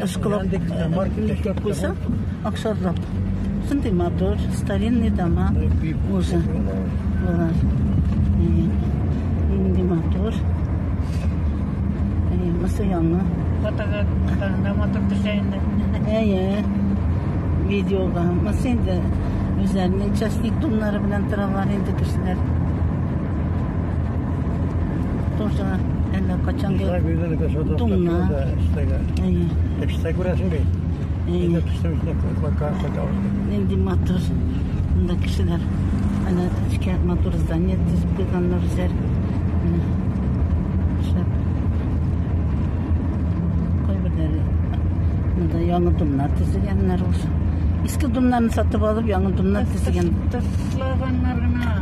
Ышкылап, никеп куйсак, аксарлап. Шундый матур, старинный дома уже. Болар. Инде матур. Мысы яңы. Фотога да матур төшә инде. Әйе. Видеога. Мысы инде үзләренең частник туннары белән торалар инде кешеләр. Тоже әллә качан да туңна. Эштә күрәсең бит. Инде төштем эченә кулаклар сакал. Нинди матур. Монда кешеләр әнә эчкә матур здание төзеп куйганнар үзләр. Шәп. Кайберләре монда яңа домнар төзегәннәр ул. Иске домнарны сатып алып, яңа домнар төзегән. Ташлаганнар гына.